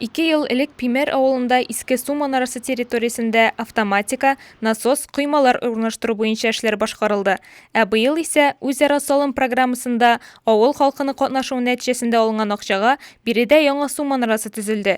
Ике ел элек Пимер авылында Иске су манарасы территориясендә автоматика, насос, коймалар урнаштыру буенча эшләр башкарылды. Ә быел исә үзара салым программасында авыл халкының катнашуы нәтиҗәсендә алынган акчага биредә яңа су манарасы төзелде.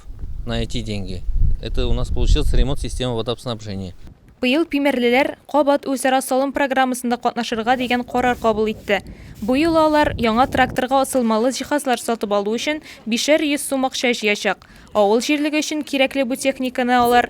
ремонт на эти деньги. Это у нас получился ремонт системы водообснабжения. Быел пимәрлеләр кабат үзара салым программасында катнашырга дигән карар кабул итте. Бу юлы алар яңа тракторга асылмалы җиһазлар сатып алу өчен бишәр йөз сум акча җыячак. Авыл җирлеге өчен кирәкле бу техниканы алар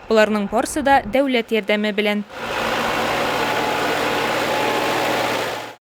Боларның барсы да дәүләт ярдәме белән.